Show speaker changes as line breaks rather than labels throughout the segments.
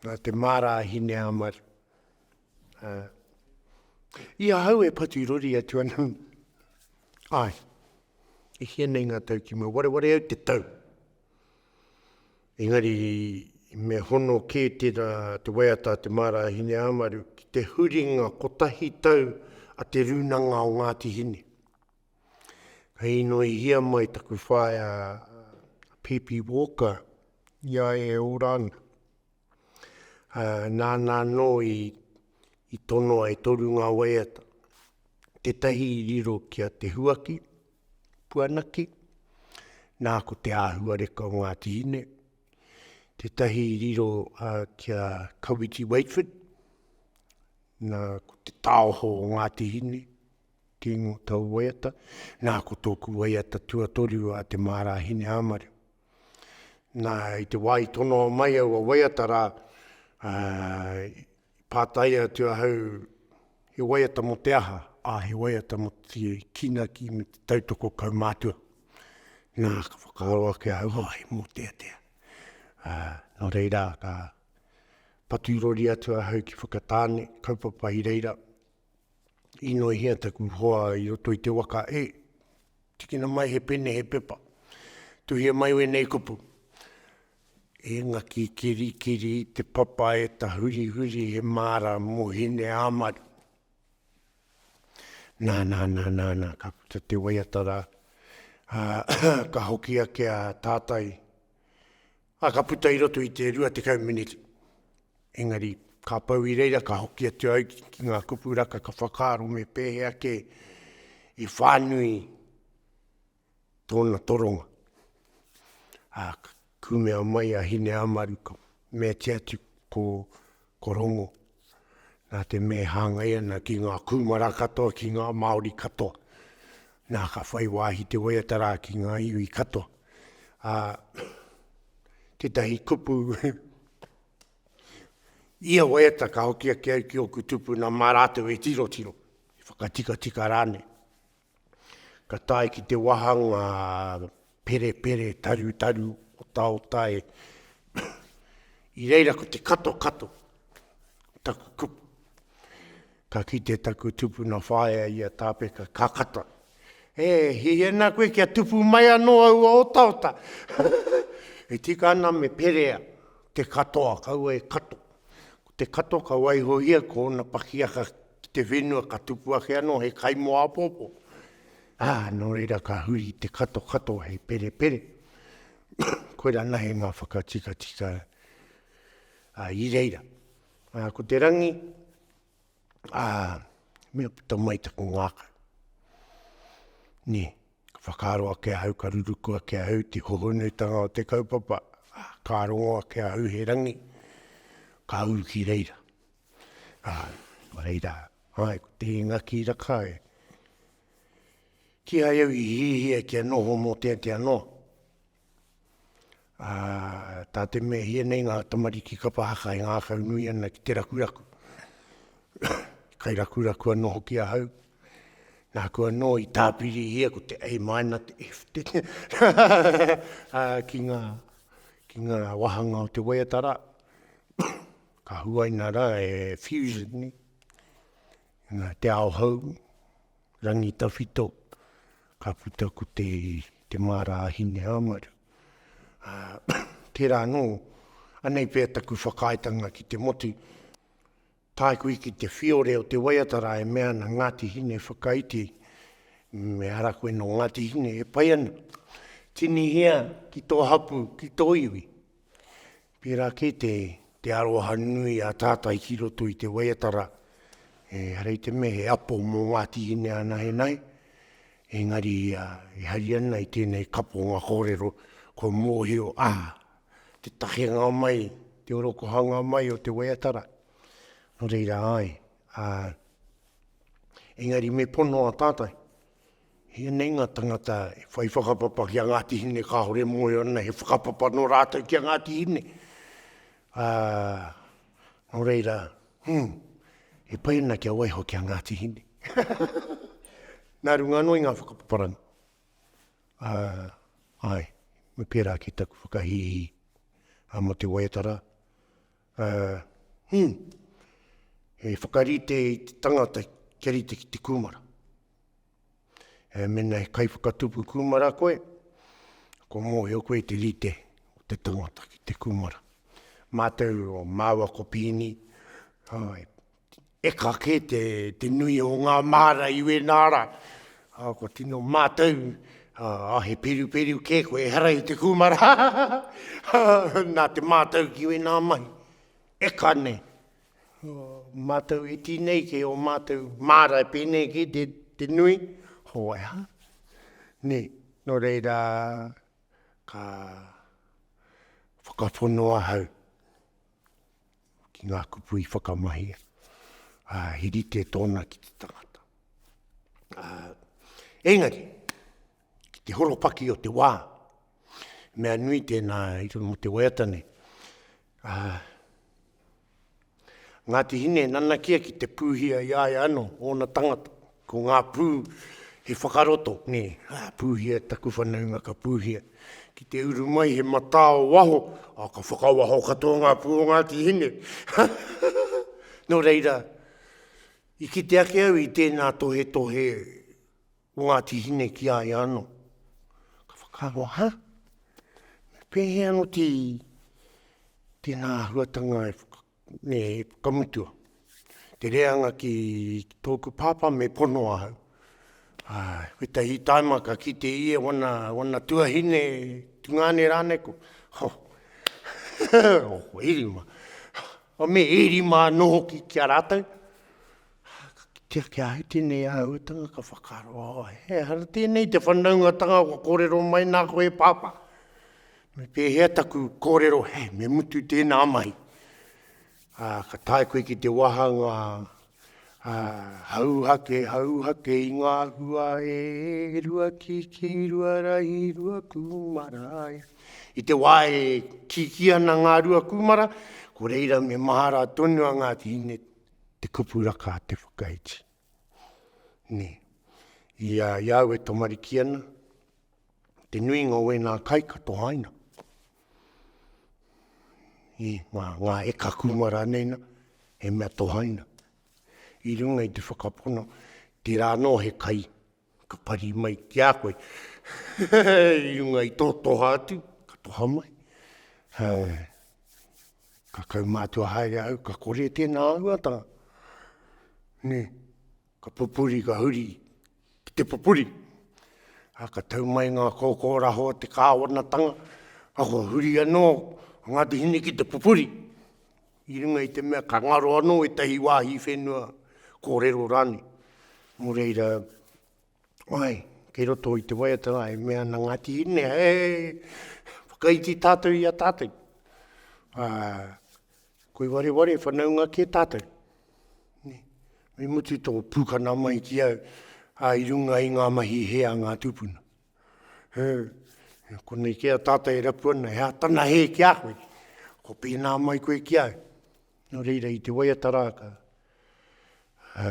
Nā te māra a Hineāmaru. Ā, i ahau e patu rori atu ana, āe, e hia nei ngā tau ki mua, wareware au te tau. Engari, me hono kē tērā te waiata a te māra a Hineāmaru ki te huringa kotahi tau a Te Rūnanga o Ngāti Hine. Ka inoihia mai taku whaea a Pipi Walker i a ia e ora ana. Nāna anō i tonoa e toru ngā waiata, tētahi i riro ki a Te Huaki, Puanaki, nā ko te āhuareka o Ngāti Hine, tētahi i riro ki a Kawiti Wakeford, nā ko te taoho o Ngāti Hine, Kingo tau waiata, nā, ko tōku waiata tuatoru a Te Mārāhine Āmare. Nā, i te wā i tono mai aua waiata rā, ā, i pātai atu ahau, he waiata mō te aha? Ā, he waiata mō te kīnaki me te tautoko kaumātua. Nā, ka whakaaro ake ahau, oh, he mōteatea. Ā, nō reira, ka patu rori atu ahau ki Whakatāne, kaupapa i reira, Inoihia taku hoa i roto i te waka e. Tikina mai he pene, he pepa. Tuhia mai wēnei kupu. E ngaki kirikiri te papa e tahurihuri he māra mō hine āmari. Nā, nā, nā, nā, nā, ka puta te waiata rā. Ka hoki ake a tātai. Ā, ka puta i roto i te rua tekau meneti. Engari, ka pau i reira, ka hoki atu au ki ngā kupu raka ka whakaaro me pēhea kē i whānui tōna toronga. Ā, ka kumea mai a Hineāmaru, ka meatia atu, ko. Ko Rongo, nā te mea e hāngai ana ki ngā kūmara katoa, ki ngā Māori katoa, nā, ka whai wāhi te waiata rā ki ngā iwi katoa. Ā, tētahi kupu, ia waiata ka hoki ake au ki ōku tupuna mā rātou e tirotiro, e whakatikatika rānei. Ka tae ki te wāhanga perepere tarutaru otaotae. I reira ko te katokato o taku kupu. Ka kite taku tupuna whaea i a Tāpeka, ka kata, E, hei ana koe kia tupu mai anō aua otaota. E tika ana me perea te katoa, kaua e kato. Ko te kato ka waihohia ko ōna pakiaka ki te whenua ka tupu ake anō he kaimoa apōpō, ā, nō reira ka huri i te kato katoa hei perepere, koirā nahe ngā whakatikatika i reira. Ā, ko te rangi, ā, mea puta mai taku ngākau. Nē, ka whakaaro ake ahau, ka ruruku ake ahau te hohonuitanga o te kaupapa, ā, ka rongo ake ahau he rangi, ka uru ki reira. Ā, nō reira, āe, ko te hinga ki Rakai, kīhai au i hiahia kia noho mō te ake anō. Ā, tā te mea hia nei ngā tamariki kapa haka e ngākau nui ana ki te rakuraku. Kai rakuraku anō hoki ahau, nāku anō i tāpirihia ko te A minor, te F, te ki ngā, ki ngā wāhanga o te waiata rā. Ka huaina rā e Fusion nei, nā Te Ao Hou, Rangitawhito, ka puta ko te, te māra a Hineāmaru. Ā, tērā anō, anei pea taku whakaaetanga ki te motu, tae koe ki te whiore o te waiata rā e mea ana, Ngāti Hine, whakaiti, me ara koe nō Ngāti Hine, e pai ana, tinihia ki tō hapū, ki tō iwi. Pērā kē te, te aroha nui a tātai ki roto i te waiatara, ehara te mea he apo mō Ngāti Ine anahenahe, engari e hari ana i tēnei kaponga kōrero, kua mōhio, ā, te takenga mai, te orokohanga mai o te waiatara. Nō reira, āe, ā, engari me pono a tātai. Hianei nga tangata e whai whakapapa ki a Ngati Hine kahore e moe ana he whakapapa no ratou ki a Ngati Hine. A, no reira, hum, e pai ana kia waiho ki a Ngati Hine. Na runga ano i nga whakapaparanga. A, ae, me pera ake taku whakahihi. A mo te waiata ra, Ā, hum! He whakarite i te tangata kia rite ki te kūmara. Ā, mēnā he kaiwhakatupu kūmara koe, kua mōhio koe i te rite o te tangata ki te kūmara. Mātou o māua ko Pīni, āe, E ka kē te nui o ngā māra i wēnā rā. Kua tino mātau, ā, he peruperu kē koe, ehara i te kūmara, nā te mātau ki wēnā mahi. E ka nē, mātau e tinei kē ō mātau māra e pēnei kē te nui, hoaiha. Nē, nō reira, ka whakapono ahau. ki ngā kupu i whakamahi, ā, he rite tōna ki te tangata. Ā, engari, ki te horopaki o te wā, mea nui tēnā i runga mō te waiata nei, ā, Ngāti Hine nanakia ki te pūhia i aia anō ōna tangata, Ko ngā pū he whakaroto, nē, pūhia, taku whanaunga ka pūhia. Ki te uru mai he matā o waho, ā, ka whakawaho katoa ngā pū o Ngāti Hine. Nō reira, i kite ake au i tēnā tohetohe o Ngāti Hine ki a ia anō. Ka whakaaro, hā? Pēhea anō tēnā āhuatanga e Me whakamutua te reanga ki tōku pāpā me pono ahau. Āe, wetahi taima ka kite ia wana, wana tuahine, tungāne rānei ko, ho, ho, e rima. Ho, me e rima anō hoki ki a rātou. Ka kitea ki ahau tēnei āhuatanga ka whakaaro, oh, he aha tēnei te whanaungatanga kua kōrero mai nā koe pāpā. Me pēhea taku kōrero, he, me mutu tēnā mahi. Ā, ka tae koe ki te wāhanga, ā, hauhake, hauhake i ngā hua e rua kiki, rua rahi, rua kūmara. I te wā e kiki ana ngā rua kūmara, ko reira me mahara tonu a Ngāti Hine te kupu raka a te whakaiti. Nē, i a iau e tamariki ana, te nuinga o ēnā kai ka tohaina i ngā, ngā eka kūmara nei na, he mea tohaina. I runga i te whakapono, tērā anō he kai ka pari mai ki a koe. I runga i tō toha atu, ka toha mai. Hai. Ka kaumātua haere au, ka kore tēnā āhuatanga. Nē, Ka pupuri, ka huri ki te pupuri. Ā, ka tau mai ngā kōkōraho o te kāwanatanga, ā, kua huri anō a Ngāti Hine ki te pupuri, i runga i te mea ka ngaro anō ētahi wāhi whenua kōrero rānei. Nō reira, āe, kei roto i te waiata rā, e mea ana Ngāti Hine, he whakaiti tātou i a tātou. Ā, Koi wareware whanaunga kē tātou. Me mutu tō pūkana mai ki au, ā, i runga i ngā mahi hē a ngā tūpuna. Hē, konei kē a tātou e rapu ana, he atana hē ki a koe. Ko pēnā mai koe ki au. Nō reira, i te waiata rā ka, ā,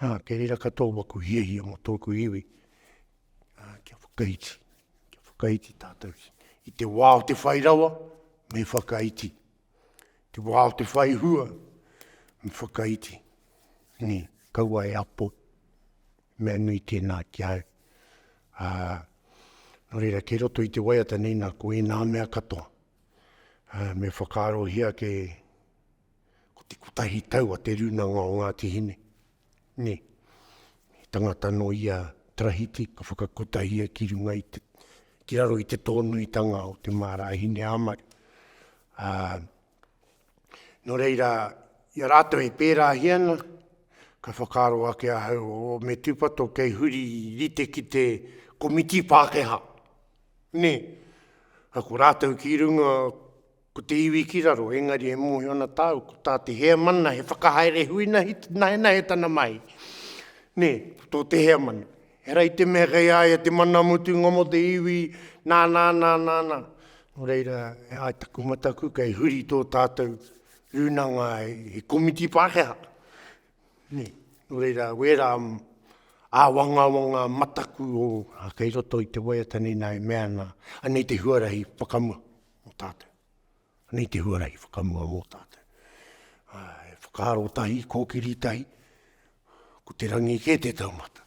Ā, kei reira katoa maku hiahia mō tōku iwi, ā, kia whakaiti, kia whakaiti tātou ki, i te wā o te whai rawa, me whakaiti. Te wā o te whai hua, me whakaiti. Nē, kaua e apo, mea nui tēnā ki au. Ā, nō reira, kei roto i te waiata nei nā, ko ēnā mea katoa. Ā, me whakaarohia ke, Ko te kotahi tau a Te Rūnanga o Ngāti Hine, nē, he tangata nō ia Tarahiti ka whakakotahia ki runga i te, ki raro i te tōnuitanga o te māra hine a Mari. Ā, nō reira, i a rātou e pērāhia ana, ka whakaaro ake ahau, o, me tūpato kei huri i rite ki te komiti Pākehā, nē, ā, ko rātou ki runga, Ko te iwi ki raro, engari e mōhio ana tāu, ko tā te heamana he whakahaere huinahi nahenahe tana mahi. Nē, ko tō te heamana. Ehara i te mea kei a ia te mana mutunga mō te iwi, nā, nā, nā, nā, nā. Nō reira, e ai taku mataku, kei huri tō tātou rūnanga he komiti Pākehā. Nē, nō reira, wērā āwangawanga mataku o, kei roto i te waiata nei nā e mea ana, anei te huarahi whakamua. mō tātou. Nei te huarahi whakamua mō tātou. Ai, whakaaro tahi, kōkiri tahi, ko te rangi kē te taumata.